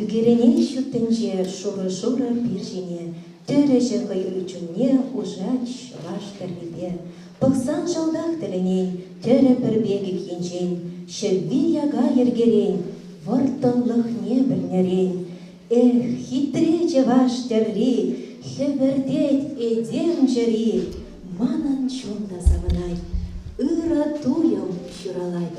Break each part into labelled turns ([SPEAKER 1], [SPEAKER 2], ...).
[SPEAKER 1] Ӳкерӗней ҫут тӗнче шурӑ-шурӑ пир ҫине тӗрӗҫӗ хӑю чунне Ушанч чӑваш тӗррипе пӑхсан Шалтах тӗлӗнен тӗрӗ пӗр пекех енчен Ҫӗвви яка йӗркерен вӑрттӑнлӑхне пӗлнӗрен Эх, хитре чӑваш тӗрри, хӗпӗртет этем чӗри Манӑн чун та савӑнать, ырӑ туйӑм ҫуралать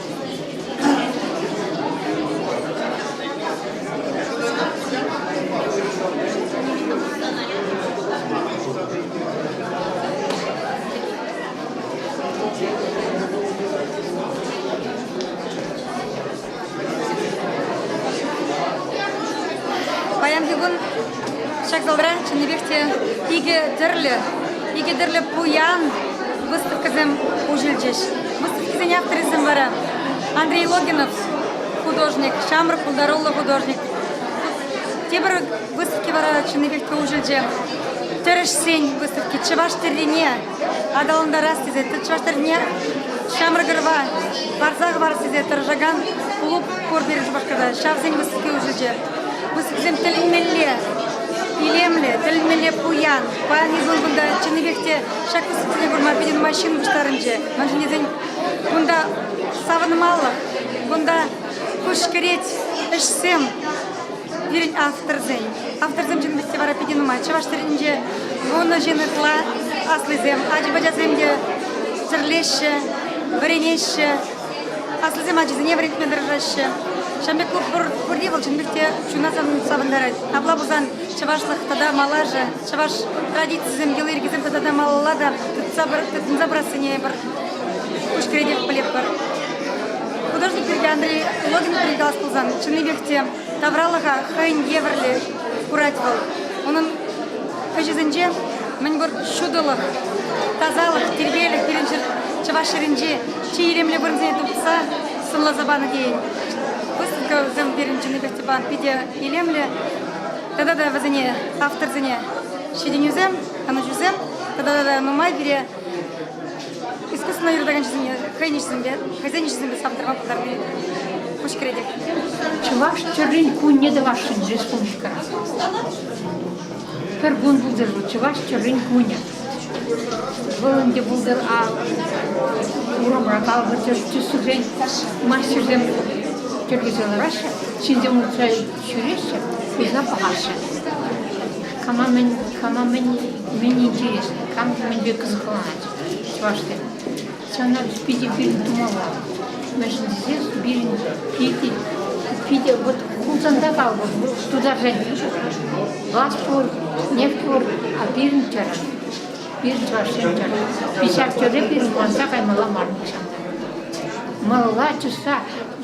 [SPEAKER 2] Паянхи кун ҫак залра чӑннипех те икӗ тӗрлӗ, икӗ тӗрлӗ пуян выставкӑсем уҫӑлчӗҫ. Выставкӑсен актрисем вара Андрей Логинов художник, ҫамрӑк пултаруллӑ художник. Тепӗр выставки вара чӑннипех те уҫӑлчӗ. Тӗрӗшсен выставки чӑваш тӗррине аталантарас тесе, чӑваш тӗррине ҫамрӑк ӑрӑва парса хӑварас тесе тӑрӑшакан клуб пур пирӗн Шупашкарта. Ҫавсен выставки уҫӑлчӗ. Выставкӑсем тӗлӗнмелле илемлӗ, тӗлӗнмелле пуян. Паян эпир кунта чӑннипех те Ҫак тӗслӗхсене курма питӗ нумай ҫын пуҫтарӑнчӗ. Мӗншӗн тесен кунта савӑнмалӑх, кунта куҫкӗрет ӗҫсем пирӗн авторсен. Авторсем ҫын вӗсте вара питӗ нумай. Чӑваш тӗнчинче вунӑ ҫын ытла аслисем, ача-пӑчасем те тӗрлеҫҫӗ, вӗренеҫҫӗ, аслисем ачисене вӗрентме тӑрӑшаҫҫӗ. Ҫавӑн пек клуб пур, пурри вӑл чӑн пек те чуна савӑнтарать. Апла пулсан чӑвашлӑх тата малашӗ чӑваш традицисем, йӑли-йӗркисем тата та малалла та тытса тытӑнса пырассине пӗр куҫ кӗретех пӗлетпӗр. Художник пирки Андрей Логинов пирки калас пулсан, чӑннипех те тавралӑха хӑйӗн евӗрлӗ курать вӑл. Унӑн ӗҫӗсенче мӗнпур ҫутӑлӑх, тасалӑх, тирпейлӗх пирӗн чӑваш ҫӗрӗнче чи илемлӗ вырӑнсене тупса сӑнласа панӑ тейӗн. Выставка вӗсем пирӗн чӑннипех те питӗ илемлӗ. Тата та вӗсене авторсене ҫитӗнӳсем, канӑҫусем тата та нумай пире искусствӑна юратаканҫисене хӑйӗн ӗҫӗсемпе, хӑйсен ӗҫӗсемпе савӑнтарма пултарни куҫ кӗретех. Чӑваш
[SPEAKER 3] тӗррин кунне тӑвасшӑн республикӑра. Пӗр кун пултӑр вӑл чӑваш тӗррин кунӗ. Вӑл ӗнтӗ пултӑр урамра калӑпӑр тӗссӗсрен мастерсем тӗрлесе лараҫҫӗ. Ҫынсем утса Ҫӳреҫҫӗ, уйса пӑхаҫҫӗ. Кама мӗн, кама мӗн, мӗн интерес, кам мӗнпе кӑсӑкланать чӑвашсем. Ҫавна питӗ пирӗн тумалла. Мӗншӗн тесен пирӗн питӗ, питӗ вот Хусанта калӑпӑр, вӑл тутарсен газ пур, нефть пур, а пирӗн тӗрӗ. Пирӗн чӑвашсен тӗрӗ. Ҫав тӗре пирӗн курӑнса каймалла мар нихҫан та. Малла чӑсса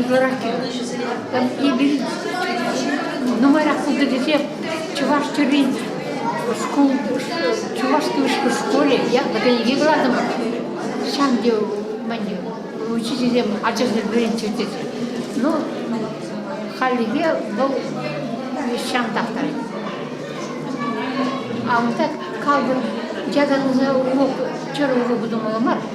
[SPEAKER 3] Ытларах кирлӗҫӗсене эпир нумайрах пултӑ тесе чӑваш тӗррин шкул, чувашский вышкул школе якбы кӗнеке кӑлартӑмӑр. Ҫав те мӗн учительсем ачасем вӗренччӗр тесе. Ну, хальлӗхе вӑл ҫантах та. А унта калпӑн ятарласа урок, чӑрӑ уроку тумалла мар.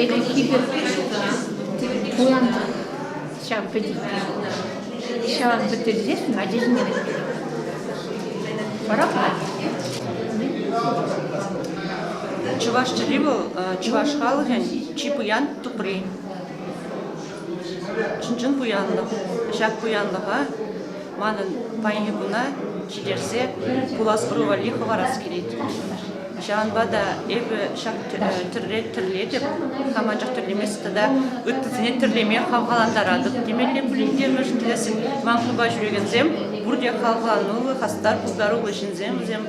[SPEAKER 3] Ӗлӗкхи пек пулчӗ та, куланах ҫав пӗтет. Ҫаван пӗтерсен ачасене пӑрахать.
[SPEAKER 4] Чӑваш чӗри вӑл чӑваш халӑхӗн чи пуян тупри. Чӑн-чӑн пуянлӑх. Ҫак пуянлӑха Манӑн пайнекуна килӗшсе пуласлу валли хӑварас килет. Ҫавӑнпа та эпӗ ҫак тӗрре тӗрлетӗп, хам анчах тӗрлемест тата ыттисене тӗрлеме хавхалантаратӑп темелле пулин те, мӗншӗн тесен ман клуба ҫӳрекенсем пурте хавхалануллӑ, хастар, пуҫларуллӑ ҫынсем, вӗсем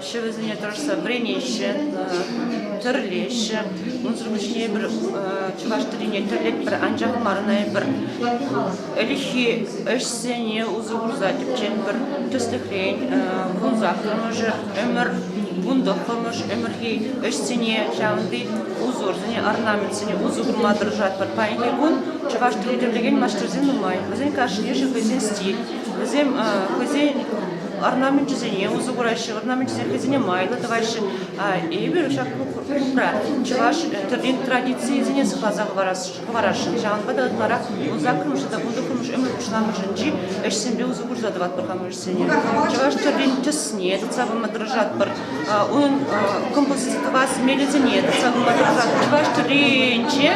[SPEAKER 4] ҫӑвӗсене тӑрӑшса вӗренеҫҫӗ, тӗрлеҫҫӗ. Унсӑр пуҫне пӗр чӑваш тӗлине тӗрлетпӗр, анчах марӑнайпӑр. Ӗлӗкхи ӗҫсене усӑ курса тӗпчен пӗр тӗслӗхрен вунсах ӑмӑшӗ ӗмӗр, вунтӑх ӑмӑш ӗмӗрхи ӗҫсене, ҫавӑнти узорсене, орнаментсене усӑ курма тӑрӑшатпӑр. Паянхи кун чӑваш тӗлне тӗрлекен маҫтӑрсем нумай. Вӗсен кашни хӑйсен стиль. Вӗсем хӑйсен орнаменчӗсене усӑ кураҫҫӗ, орнаменчӗс йӗркисене майлӑ тӑваҫҫӗ. Эпир ҫак клубра чӑваш тӗррин традицийӗсене сыхласа хӑварасшӑн. Ҫавӑнпа та ытларах вунсаккӑрмӗш тата вунтӑккӑрмӗш ӗмӗр пуҫламӑшӗнчи ӗҫсемпе усӑ курса тӑватпӑр хамӑр ӗҫсене. Чӑваш тӗррин тӗсне тытса пыма тӑрӑшатпӑр. Унӑн композиципа сӗнмеллисене тытса пыма тӑрӑшать. Чӑваш тӗрринче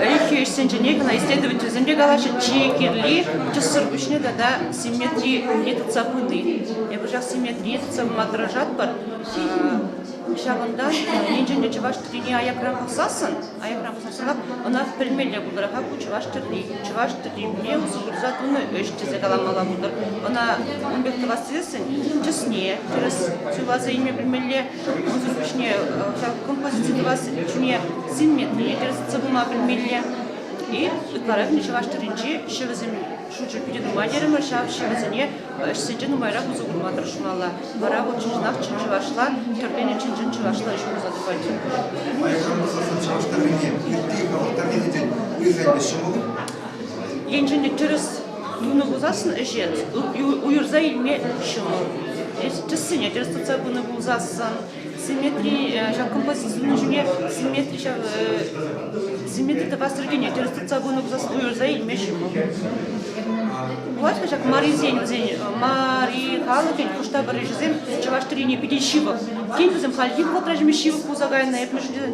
[SPEAKER 4] ӗлӗкхи ӗҫсенчене кӑна исследовательсем те калаҫҫӗ, чи кирли тӗссӗр пуҫне тата симметрие тытса пыни. Эпир ҫак симметрие тытса пыма тӑрӑшатпӑр. Ҫавӑнта енчен те чӑваш тӗррине аякран пӑхсассӑн Аякра пӑсасран ӑна пӗлмелле пултӑр-ха ку чӑваш тӗрри. Чӑваш тӗррине усӑ курса тунӑ ӗҫ тесе каламалла пултӑр. Ӑна ун пек тӑвас тесен тӗсне тӗрӗс суйласа илме пӗлмелле. Унсӑр пуҫне ҫав композици тӑвас ҫине синметрине тӗрӗс сыпӑма пӗлмелле. И ытларах чӑваш тӗрринчи ҫӗвӗсем Шучӗ питӗ тупа терӗмӗр ҫав. Ҫӗрӗсене ӗҫсенче нумайрах усӑ курма тӑрӑшмалла. Вара вӑл чӑнах чӑн чӑвашла, тӗрленӗ чӑн-чӑн чӑвашла ӗҫ пулса тухать. Енчен те тӗрӗс тунӑ пулсассӑн ӗҫе уйӑрса илме ҫӑмӑл. Тӗссене тӗрӗс тытса пынӑ пулсассӑн симметри ҫак композици сунӑ ҫӳле симметри ҫав симметри тӑвас регионе тӗрӗс тытса пынӑ пулсассӑн уйӑрса илмеҫҫӗ Пулать-ха ҫак марисен вӗсен мари халӑхӗн хуштавӑрришӗсем чӑваш тӗррине питӗ ҫывӑх. Тен, вӗсем хальхи вӑхӑтра ҫимӗҫ ҫывӑх пулса кайнӑ, эп мӗншӗн тесен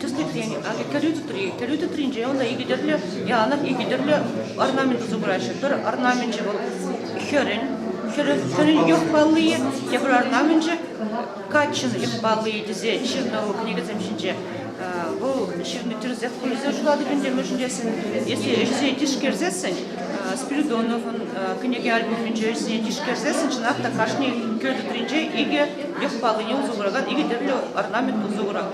[SPEAKER 4] тӗслӗхрен, кӗрӳ тӗтри. Кӗрӳ тӗтринче унта икӗ тӗрлӗ янӑк, икӗ тӗрлӗ орнаменчӗ супраҫҫӗ. Пӗр орнаменчӗ вӑл хӗрӗн, хӗрӗн, хӗрӗн юх паллийӗ, тепӗр орнаменчӗ каччӑн юх паллийӗ тесе ҫырнӑ вӑл кӗнекесем ҫинче. Вӑл ҫырнӑ тӗрӗсех пулса шулатӑп ӗнтӗ, мӗншӗн тесен если ӗҫсене тишкерсессӗн Спиридоновӑн кӗнеке альбомӗнче ӗҫсене тишкерсессӗн чӑнах та кашни кӗрӳ тӗтринче икӗ юх паллине усӑ куракан икӗ тӗрлӗ орнамент усӑ курать.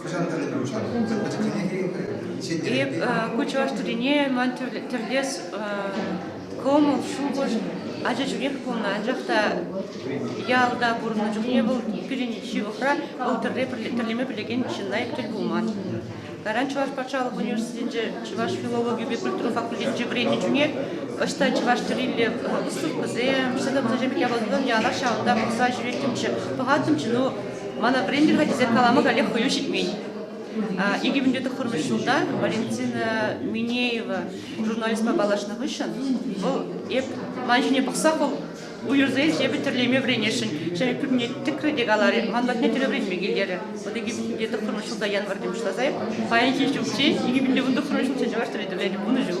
[SPEAKER 4] Хӑҫан тӗлӗнпе пуҫланӑ? Унсӑр пӗтӗмлетме кирлӗ. Эп ку чӑваш тӗррине ман тӗрлес кӑмӑл, шухӑш ача чухнех пулнӑ. Анчах та ялта пурӑннӑ чухне вӑл пирӗн ҫывӑхра вӑл тӗрле тӗрлеме пӗлекен чылай тӗл пулман. Кайран Чӑваш патшалӑх университетӗнче чӑваш филологийӗпе культура факультетӗнче вӗреннӗ чухне ӑҫта чӑваш тӗррилле выставкӑсем, сӗтӗмсем япаласем ялах ҫавӑнта пӑхса ҫӳреттӗмччӗ, пӑхаттӑмччӗ. Ну, Мана Брендель хатӗсем калама каллех хӑю ҫитмен. Икӗ вӗнтӳ тӑххӑрмӗш ҫулта Валентина Минеева журналистпа паллашнӑ хыҫҫӑн вӑл эп ман ҫине пӑхса хӑв уйӑрса ил эпӗ тӗрлеме вӗренесшӗн ҫав пӳрне тӗкрӗ те каларӗ ман патне тӗрӗ вӗренме килтерӗ вот икӗ вӗнтӳ тӑххӑрмӗш ҫулта ятвар тем ӑҫтаса эп паянхи ҫулччен икӗ вӗнтӳ вун тӑххӑрмӗш ҫулччен чӑваш тӗрри тӗвленӗ пулнӑ ҫул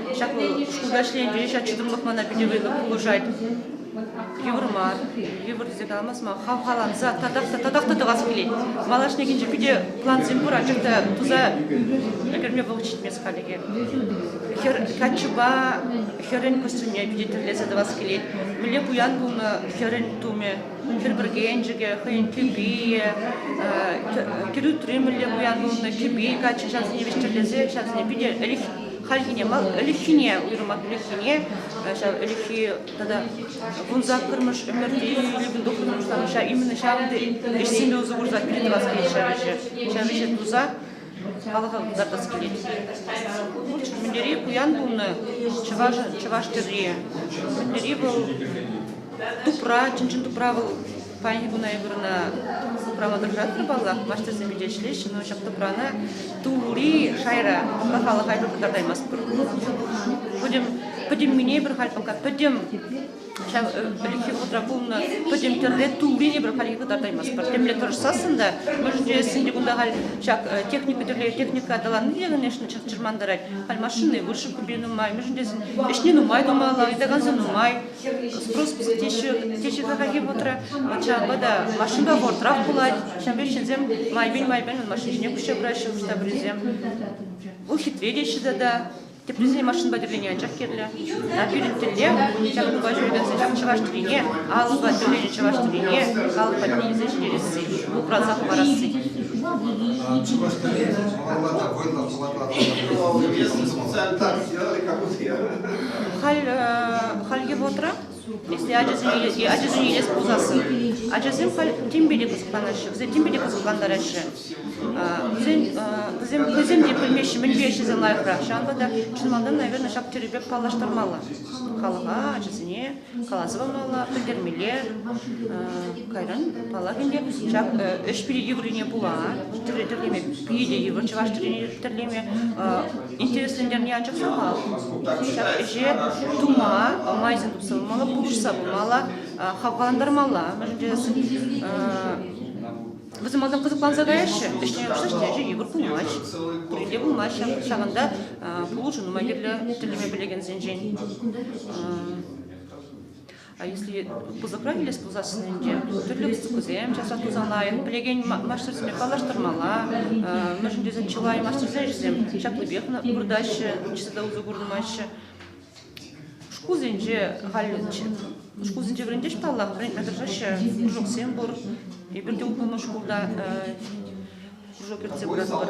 [SPEAKER 4] Ҫак вӑл шкулта ӗҫленипе ҫак чӑтӑмлӑх мана питӗ вӑйлӑ пулӑшать. Йывӑр мар, йывӑрчӗ каламасма, хавхаланса татах та татах та тӑвас килет. Малашнехинче питӗ плансем пур, анчах та туса ӗлкӗрме вӑл ҫитмест халӗ Хӗр каччӑпа хӗрӗн костюмне питӗ тӗрлесе тӑвас килет. Мӗнле пуян пулнӑ хӗрӗн тумӗ, хӗр пӗркенчӗкӗ, хӑйӗн кӗпийӗ, кӗрӳтри мӗнле пуян пулнӑ кӗпи каччӑ ҫавсене вӗҫтерлесе ҫавсене питӗ хальхине мал ӗлӗкхине, уйрӑмах ӗлӗкхине, ҫав ӗлӗкхи тата вунсаккӑрмӗш ӗмӗрти Любин Духовный пуҫланӑҫа именно ҫав ӗҫсемпе усӑ курса перетӑвас килет ҫав ӗҫе. Ҫав ӗҫе туса халӑха кӑтартас килет. Пулчӑ Мӗнтери пуян пулнӑ чӑваш, чӑваш тӗрри. Мӗнтери вӑл тупра, чӑн-чӑн тупра вӑл Паянхи куна эпир ӑна супрама тӑрӑшаттӑр паллах. Маҫтӑрсем ӳте ӗҫлеҫҫӗ, но ҫак тӑпрана тулури шайра апла халӑха пӗр кӑтартаймастпӑр. Пӗтӗм пӗтӗммине пӗр халь пока пӗтӗм ҫав пӗлӗхи вӑхӑтра пулнӑ пӗтӗм тӗрре туллине пӗр халь кӑтартаймастпӑр. Темле тӑрӑшсассӑн та мӗшӗнче кунта халь ҫак техника тӗрле техника аталанни те, конечно, чӑрмантарать. Халь машини выше купи нумай, мӗшӗнче ӗҫне нумай тумалла, ыйтаканса нумай. Спрос теҫҫӗ, теҫҫӗ такахи путра. Ҫавӑнпа та машинпа бортрах пулать. Ҫавӑн пек ҫынсем майпен-майпен машина ҫине куҫса пыраҫҫӗ хӑш-пӗрисем. Вӑл хитре теҫҫӗ тата. Теприсен машинпа тӗрлени анчах кирлӗ. А пирӗн тӗле ҫакӑнпа ҫӳрекенсен ҫак чӑваш тӗлине, алӑпа тӗрленӗ чӑваш тӗлине калӑк патне илсе ҫитересси, упранса хӑварасси. Чӑваш тӗле малалла та вӑйлӑ
[SPEAKER 5] хӑватлатӑр. Так, я как у всех.
[SPEAKER 4] Хальхи вӑхӑтра ачасене илес пулсассӑн ачасем халь тимпе те кӑсӑкланаҫҫӗ, вӗсем тимпе те кӑсӑклантараҫҫӗ. Вӗсем те пӗлмеҫҫӗ мӗнпе ӗҫлесе лайӑхрах. Ҫавӑнпа та чӑн малтан, наверное, ҫак тӗллевпе паллаштармалла халӑха, ачасене. каласа памалла, пӗлтермелле. Кайран, паллах ӗнтӗ, ҫак ӗҫ пирки йывӑррине пула тӗрлеме питӗ йывӑр чӑваш тӗллеме тӗрлеме интереслентерни анчах сахал. Ҫак ӗҫе тума майсем тупса пымалла, пулӑшса пымалла, хавхалантармалла. Мӗншӗн тесен Вӗсем малтан кӑсӑкланса каяҫҫӗ, вӗҫне пӑхсач ячӗ йывӑр пулмасть. Пурин те пулмасть ҫавӑн ҫавӑнта пулӑшу нумай кирлӗ тӗллеме пӗлекенсенчен. А если пысӑкрах илес пулсассӑн ӗнтӗ тӗрлӗ выставкӑсем часах туса лайӑх пӗлекен маҫтӑрсемпе паллаштармалла. Мӗншӗн тесен чылай маҫтӑрсен ӗҫӗсем ҫаплипех выртаҫҫӗ, ниҫта та усӑ курӑнмаҫҫӗ. Шкулсенче халь шкулсенче вӗрентеҫ паллах, вӗрентме тӑрӑшаҫҫӗ кружоксем пур. Эпир те упӑннӑ шкулта кружок ертсе пыратпӑр.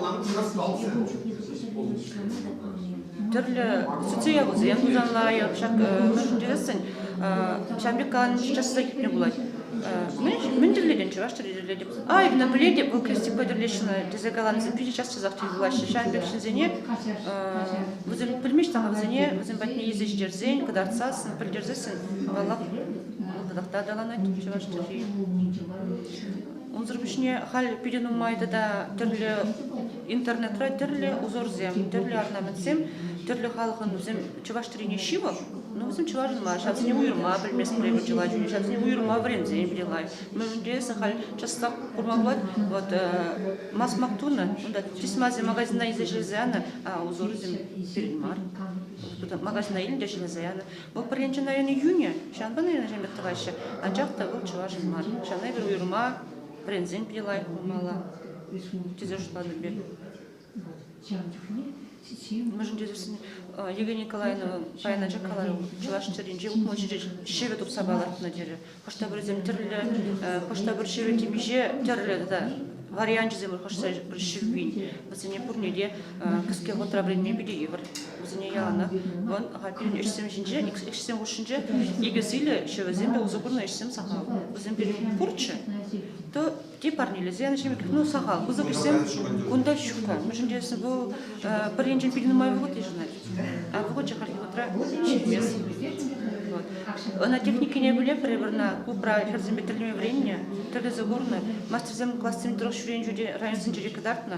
[SPEAKER 4] Тӗрлӗ сӗтсе явӑсем тусан лайӑх ҫак мӗншӗн тесен ҫавӑн пек калани часрах иртме пулать. Мӗн тӗрлетӗн, чӑваш тӗрри тӗрлетӗп. Ай, мӗн пӗлетӗп, вӑл крестикпа тӗрлеҫҫӗ тесе каланисем питӗ час часах тӳ хываҫҫӗ ҫавӑн пек ҫынсене вӗсем пӗлмеҫҫӗ вӗсене вӗсем патне илсе ҫитерсен кӑтартсассӑн пӗлтерсессӗн аваллах тӑтах та аталанать чӑваш чӗлхи унсӑр пуҫне халь питӗ нумай тата тӗрлӗ интернетра тӗрлӗ узорсем тӗрлӗ орнаментсем тӗрлӗ халӑхӑн вӗсем чӑваш тӗрине ҫывӑх но вӗсем чӑвашӑн мар ҫавсене уйрӑма пӗлместпӗр эпӗ чылай чухне ҫавсене уйрӑма вӗренсен питӗ лайӑх Мӗнле сахал часах курма пулать. Вот масмак тунӑ, унта чисмасем магазина илсе ҫӗлесе янӑ, а узорсем пирӗн мар. Туда магазина илнӗ ҫӗлесе янӑ. Вӑл пӗр енчен, наверное, июнье, ҫавӑнпа, наверное, ҫемье тӑваҫҫӗ. Анчах та вӑл чӑвашӑн мар. Ҫавна эпир уйрӑма вӗренсен питӗ лайӑх пулмалла, тесе шутлатӑп эпир. Мӗншӗн тесен Евгения Николаевна паян анчах каларӑм, чӑваш чӗринче утмӑл ҫӗре ҫӗвӗ тупса палӑртнӑ терӗ. Хӑш-пӗр вӗсем тӗрлӗ, хӑш-пӗр ҫӗвӗ темиҫе тӗрлӗ тата варианчӗсем хушса пӗр ҫӗввин. Вӗсене пурне те кӗске хутра вӗренме питӗ йывӑр. Вӗсене яланах вӑн пирӗн ӗҫсем ҫинче, ӗҫсем хушшинче икӗ сийлӗ ҫӗвӗсем те усӑ курнӑ ӗҫсем сахал. Вӗсем пирӗн пурччӗ, то Те парнелесен, ҫемӗтлӗхне сахал. Пысӑк ӗҫсем кунта ҫукка. Мӗншӗн тесен вӑл пӗр енчен пил нумай вӑхӑт йышӑнать, а вӑхӑтчӗ хальхи вӑхӑтра ҫитмест. Ӑна техникине пӗле пӗрре вырна клубра хӗрсемпе тӗрлеме вӗреннӗ, тӗрлесе курнӑ. Мастерсем классем тӑрӑх ҫӳренӗ чухне районсенче кӑтартнӑ.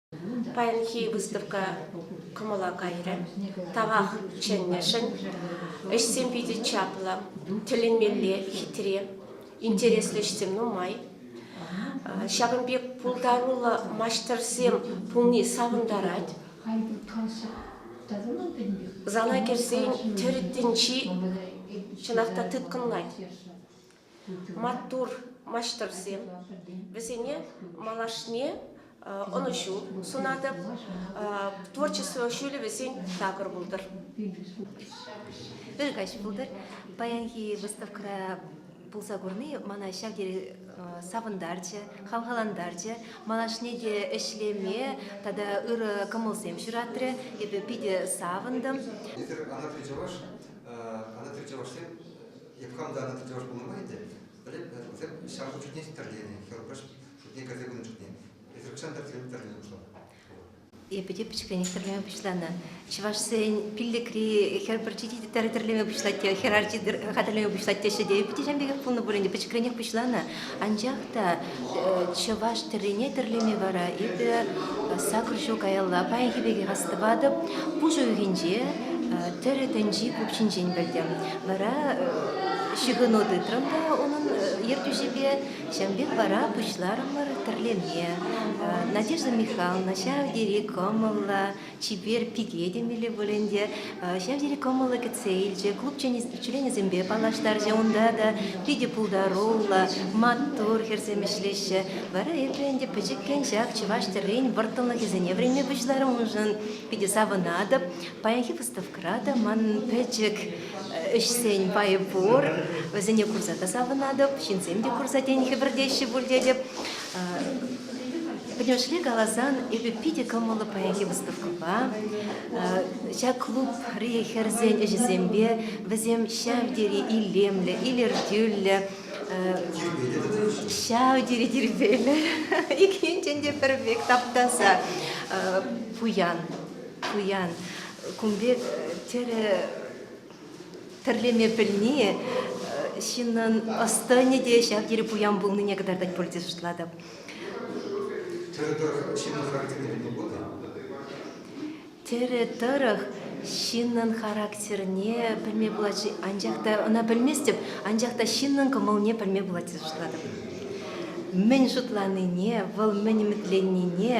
[SPEAKER 6] Паянхи выставка кӑмӑла кайрӗ. Тавах чӗннӗшӗн. Ӗҫсем питӗ чаплӑ, тӗлӗнмелле хитре, интереслӗ ӗҫсем нумай. Ҫакӑн пек пултаруллӑ маҫтӑрсем пулни савӑнтарать. Зала кӗрсен тӗр тӗнчи чӑнах та тыткӑнлать. маттур маҫтӑрсем. Вӗсене малашне ӑнӑҫу сунатӑп, творчество ҫӳлӗвӗсен такӑр пултӑр. Пӗр
[SPEAKER 1] каҫ пултӑр. Паянхи выставкӑра пулса курни мана ҫав тери савӑнтарчӗ, хавхалантарчӗ. Малашне те ӗҫлеме тата ырӑ кӑмӑлсем ҫуратрӗ. Эпӗ питӗ савӑнтӑм. Эсир анатри
[SPEAKER 5] чӑваш, анатри чӑвашсем Евхам та тӗлӗш пулнӑ май ӗнтӗ, пӗлеп, вӗсем ҫар шутне тӗрленӗ, хӗрупаҫ шутне кӗрсе пынӑ шутне. Эсир укҫан тӗрлеме пуҫланӑ. Эпӗ
[SPEAKER 1] те пӗчӗкренех тӗрлеме пуҫланӑ. Чӑвашсен пиллӗкри хӗр пӗрчи те тӗрлеме пуҫлать те, хӗр арчи хатӗрлеме пуҫлать теҫҫӗ те. Эпӗ те ҫав пекех пулнӑ пуль ӗнтӗ, пӗчӗкренех пуҫланӑ. Анчах та чӑваш тӗррине тӗрлеме вара эпӗ сакӑр ҫул каялла паянхи пекех астӑватӑп. Пушӑ уйӑхӗнче тӗрӗ тӗнчи пуп ҫинчен пӗлтӗм. Вара ҫыхӑну тытрӑм та унӑн ертӳҫипе. Ҫавӑн пек вара пуҫларӑмӑр тӗрлеме. Надежда Михайловна ҫав тери кӑмӑллӑ, Чипер пике темелле пуль ӗнтӗ, ҫав тери кӑмӑллӑ кӗтсе илчӗ, клубчӗн ӗҫченӗсемпе паллаштарчӗ. Унта та питӗ пултаруллӑ, маттур хӗрсем ӗҫлеҫҫӗ. Вара эпӗ ӗнтӗ пӗчӗккӗн ҫак чӑваш тӗррин вӑрттӑнлӑхӗсене вӗренме пуҫларӑмшӑн питӗ савӑнатӑп. Паянхи выставкӑра та манӑн пӗчӗк ӗҫсен пайӗ пур. Вӗсене курса та савӑнатӑп, ҫынсем те курса тен хӗпӗртеҫҫӗ пуль тетӗп. Пӗтӗмӗшле каласан, эпӗ питӗ кӑмӑллӑ паянхи выставкӑпа, ҫак клубри хӗрсен ӗҫӗсемпе, вӗсем ҫав тери илемлӗ, илӗртӳллӗ, ҫав тери тирпейлӗ, иккинчен те пӗр пек таптаса пуян, пуян. Кун пек тӗрӗ тӗрлеме пӗлни ҫыннӑн ӑс-тӑнӗ те ҫав тери пуян пулнине кӑтартать пуль тесе шутлатӑп. Тӗрӗ тӑрӑх ҫыннӑн характерне пӗлме пулать-ши? Анчах та ӑна пӗлместӗп, анчах та ҫыннӑн кӑмӑлне пӗлме пулать тесе шутлатӑп. Мӗн шутланине, вӑл мӗн ӗмӗтленнине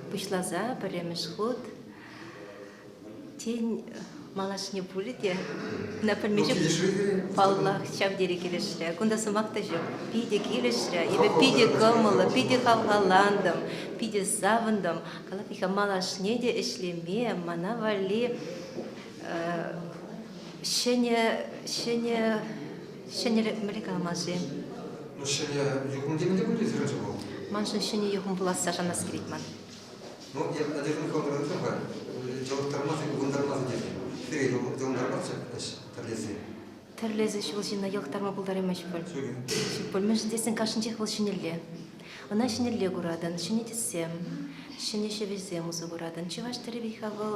[SPEAKER 1] пуҫласа пӗрремӗш хут тен малашне пулӗ те ӑна пӗлме ҫук паллах ҫав тери килӗшрӗ кунта сӑмах та ҫук питӗ килӗшрӗ эпӗ питӗ кӑмӑллӑ питӗ хавхалантӑм питӗ савӑнтӑм калапиха малашне те ӗҫлеме мана валли ҫӗнӗ ҫӗнӗ Ҫӗнӗ амӑшӗ.
[SPEAKER 5] Ҫӗнӗ юхӑм теме те пултарать ҫӗнӗ вӑл? Маншӑн ҫӗнӗ
[SPEAKER 1] юхӑм пуласса шанас килет ман. Ну,
[SPEAKER 5] Надежда Михайловна тӑвар, йӑлӑхтармасӑр, ывӑнтармасӑр тесе. Сире йӑлӑхтармастчӗ
[SPEAKER 1] ӗҫ тӗрлесе. Тӗрлесе ҫул ҫине йӑлӑхтарма пултараймасть пуль. Ҫук пуль. Мӗншӗн тесен кашнинчех вӑл ҫӗнӗлле. Ӑна ҫӗнӗлле куратӑн, ҫӗнӗ тӗссем, ҫӗнӗ ҫӗвӗсем усӑ куратӑн. Чӑваш тӗрри вӗт-ха вӑл.